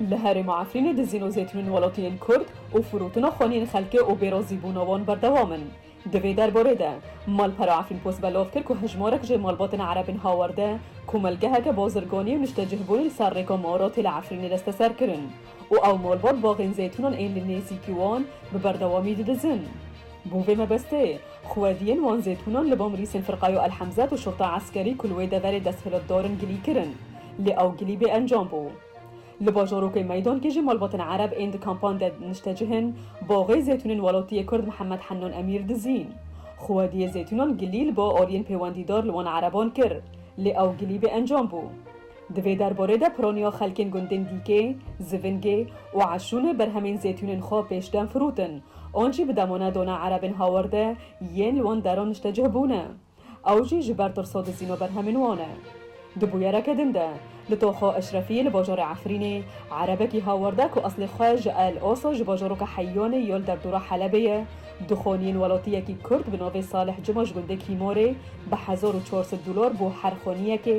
Li herêma Efrînê dizîn û zêtinên welatiyên Kurd û firotina xweniyên xelkê û bêrazîbûna wan berdewam in. Di vê derbarê de, Malpera Efrînpost belav kir ku hejmarek jê malbatên Erebên Hawerde komelgeheke bazirganî û niştecihbûnê li ser rêka Maratê li Efrînê desteser kirin û ew malbat baxên zêtûnan ên li nêzîkî wan bi berdewamî didizin. Bo vê mebestê, xwediyên wan zêtûnan li ba mirîsên Firqayo El Hemzat û Şurta Eskerî ku li wê deverê desthilatdar in gilî kirin. Lê ew gilî bê encam bû. Li bajarokê Meydankê jî malbatên Ereb ên di kampan de niştecih in, baxê zeytûnên welatiyê Kurd Mihemed Hennan Emîr dizîn. Xwediyê zeytûnan gilî li ba aliyên pêwendîdar li wan Ereban kir, lê ew gilî bê encam bû. Di vê derbarê de piraniya xelkên gundên Dîkê, Zivingê û Eşûnê berhemên zeytûnên xwe pêşdem firotin an jî bi demane dana Erebên Hawerde yên li wan deran niştecih bûne. Ew jî ji ber tirso dizîno berhemên wan e. Di bûyereke din de li Toxo Eşrefiyê li bajarê Efrînê erebekî hawerde ku eslê xwe ji El Oso ji bajaroka Heyyanê yo li derdora Helebê ye dixoniyên welatiyekî Kurd bi navê Salih Cuma ji gundê Kîmorê bi hezar û çar sed dolar bo her xoniyekê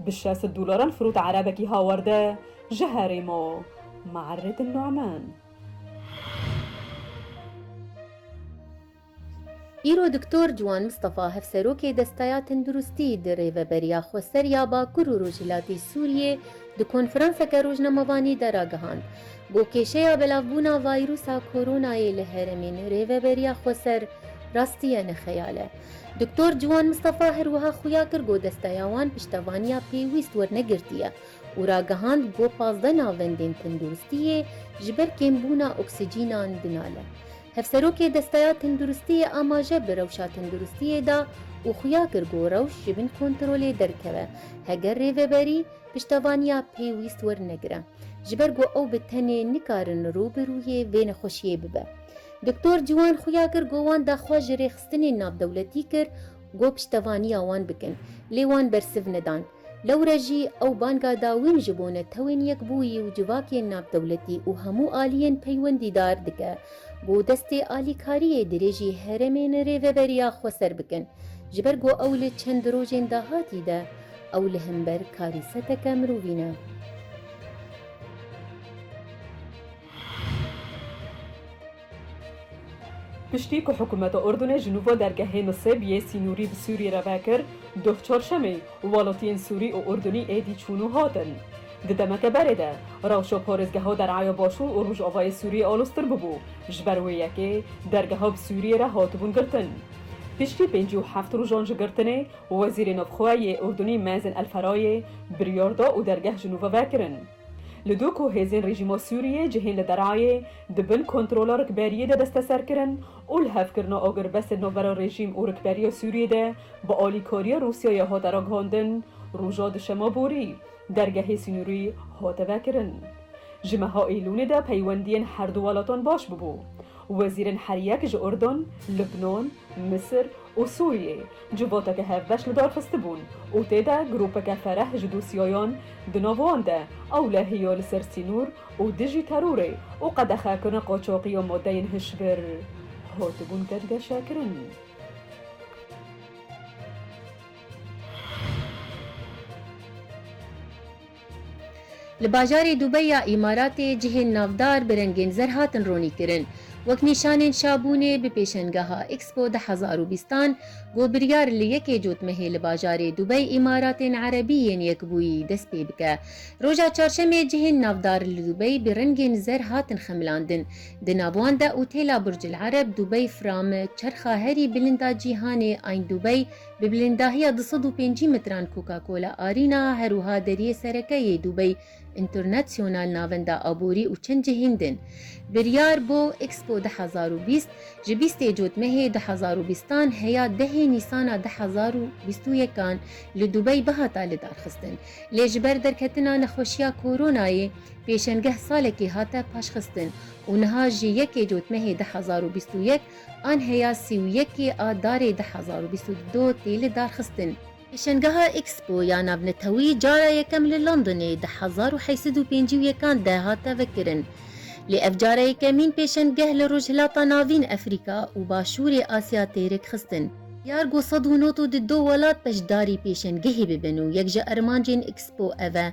Bi şest dolaran firot erebekî hawerde ji herê ma, Maerret El Nu'man. Îro Doktor Ciwan Mistefa Hevserokê Desteya Tenduristî di rêveberiya xwe ser ya Bakur û Rojhilatê Sûriyê di konferanseke rojnamevanî de ragihand, Bo kêşeya belavbûna vayrusa koronayê li heremên rêveberiya xweser rastiye ne xeyal e. Doktor Ciwan Mistefa her wiha xuya kir ku desteya wan piştevaniya pêwîst wernegirtiye û ragihand ku pazdeh navendên tenduristiyê ji ber kêmbûna oksîcînan dinale. Hevserokê desteya tenduristiyê amaje bi rewşa tenduristiyê da û xuya kir ku rewş ji bin kontrolê derkeve heger rêveberî piştevaniya pêwîst wernegire ji ber ku ew bi tenê nikarin rû bi rûyê vê nexweşiyê bibe. Doktor ciwan xuya kir ku wan daxwaz ji rêxistinên navdewletî kir ku piştevaniya wan bikin, lê wan bersiv nedan. Lewre jî ew banga da wê min ji bo Netewên Yekbûyî û civakên navdewletî û hemû aliyên peywendîdar dike ku destê alîkariyê dirêjî herêmên Rêveberiya Xweser bikin ji ber ku ew li çend rojên dahatî de ew li hember karîseteke mirovî ne. Piştî ku hikûmeta Urdunê ji nû va dergehê Nisêb yê sînorî bi Sûriyê re vekir, doh çarşemê welatiyên Sûrî û Urdunî êdî çûn û hatin. Di demeke berê de rewşa parêzgeha deraya Başûr û Rojavayê Sûriyê aloztir bûbû, ji ber wê yekê dergeha bi Sûriyê re hatibûn girtin. Piştî pêncî û heft rojan ji girtinê, Wezîrê Navxwe yê Urdunî Mazen El Ferayê biryar da û dergeh ji nû ve vekirin. Li dû ku hêzên rejîma Sûriyê cihên li derayê di bin kontrola rikberiyê de desteser kirin û li hevkirina agirbestên navbera rejîm û rikberiya Sûriyê de bi alîkariya Rûsyayê hate ragihandin, roja duşema borî dergehê sînorî hate vekirin. Ji meha Eylûlê de peywendiyên herdu welatan baş bûbû. Wezîrên herîyek ji Urdun, Libnon, Misir û Sûriyê civoteke hevbeş lidarxistibûn û tê de grûpeke fereh ji dosyayan di nav wan de ewlehî ya li ser sînor û dijî terorê û qedexekirina qaçaxî ya madeyên hişbir hatibûn geşekirin. Li bajarê Dubey ya Îmaratê cihên navdar bi rengên zer hatin ronîkirin. Wek nîşanên şabûnê bi pêşengeha Expo du hezar û bîst an ku biryar li yekê cotmehê li bajarê Dubey Îmaratên Erebî yên Yekbûyî dest pê bike. Roja Çarşemê cihên navdar li Dubey bi rengên zer hatin xemilandin. Di nav wan de Otêla Burcil Ereb, Dubey Fram, Çerxa herî bilind a cîhanê Ayn Dubey, Bi bilîndahiya du sed û pêncî mitran Coca Cola Arena her wiha deriyê sereke yê Dubey International Navenda Aborî û çend cihên din biryar bo Expo du hezar û bîst ji bîstê cot mehê du hezar û bîstan heya dehê nîsana du hezar û bîst û yekan li Dubey bihata lidarxistin lê ji ber derketina nexweşiya koronayê pêşengeh salekê hate paşxistin û niha ji yekê cot mehê du hezar û bîst û yek An heya sî û yekê a darê du hezar û bîst û du tê lidarxistin. Pêşengeha Expo ya Navnetewî cara yekem li Londonê di hezar û heşt sed û pêncî û yekan de hate vekirin. Lê ev cara yekemîn pêşengeh li Rojhilata Navîn, Efrîka û Başûrê Asya tê rêkxistin. Diyar got sed û nod û di du welat beşdarî pêşengehê bibin û yek ji armancên Expo ev e.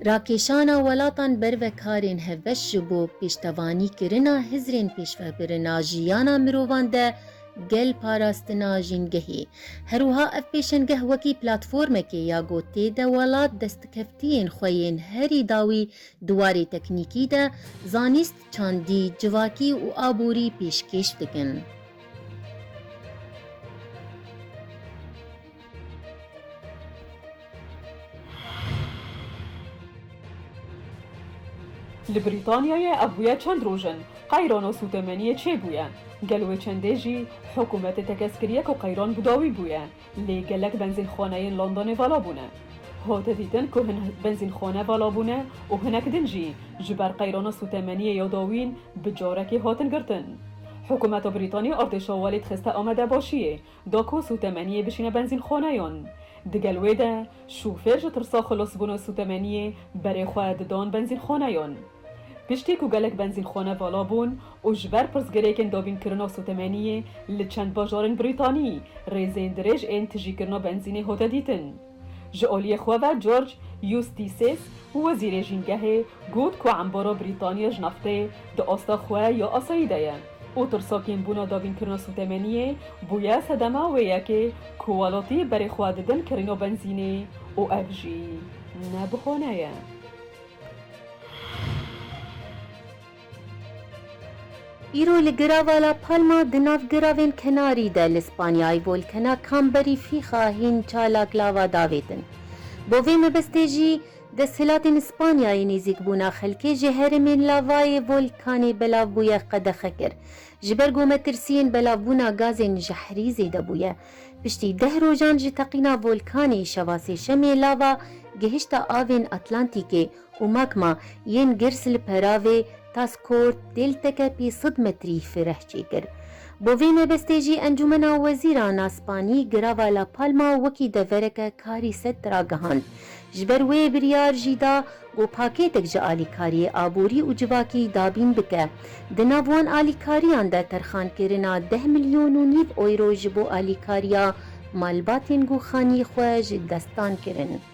Rakêşana welatan ber ve karên hevbeş ji bo pêştevanî kirina hizrên pêşvebirina jiyana mirovan de gel parastina jîngehê. Herwiha ev pêşengeh wekî platformekê ya ku tê de welat destkevtiyên xwe yên herî dawî di warê teknîkî de, zanîst, çandî, civakî û aborî pêşkêş dikin. Li Brîtanyayê ev bûye çend roj in qeyrano sûtemeniyê çêbûye. Gel wê çendê jî hikûmetê tekez kiriye ku qeyran bi dawî bûye, lê gelek benzînxaneyên Londonê vala bûne. Hate dîtin ku hin benzînxane vala bûne û hinek din jî ji ber qeyrana sûtemeniyê ya dawîn bi carekê hatin girtin. Hikûmeta Brîtanî artêşa welêt xiste Amedebaşiyê Dako sûtemeniyê bişîne benzînxaneyan. Di gel wê de şofêr ji tirsa xilasbûna sûtemeniyê berê xwe didan benzînxaneyan. Piştî ku gelek benzînxane vala bûn û ji ber pirsgirêkên dabînkirina sûtemeniyê li çend bajarên Brîtanî rêzên dirêj ên tijîkirina benzînê hate dîtin, Ji aliyê xwe ve George Eustices û wezîrê jîngehê got ku embaro Brîtanya ji nafteyê di asta xwe ya asayî de ye û tirsakên bûna dabînkirina sûtemeniyê bûye sedema wê yekê ku welatî berê xwe didin kirina benzînê û ev jî ne bihane ye. Îro li Girava La Palma di nav giravên kenarî de li Spanyayê volkena Kamberî fîxa hîn çalak lava davêtin. Bo vê mebestê jî desthilatên Spanyayê nêzîkbûna xelkê ji herêmên lavayê volkanê belav bûye qedexe kir. Ji ber ku metirsiyên belavbûna gazên jehrî zêde bûye. Piştî deh rojan ji teqîna volkanê şeva sêşemê lava gihişta avên Atlantîkê û makma yên girs li peravê Taskort Dêltekepî sid metrî fireh çêkir. Bo vê nebestê jî Encûmena Wezîran a Spanî girava La Palma wekî devereke karî set ragihand. Ji ber wê biryar jî da ku pakêtek ji alîkariyê aborî û civakî dabîn bike. Di nav wan alîkariyan de terxankirina deh milyon û nîv euro ji bo alîkariya malbatên goxanî xwe ji destan kirin.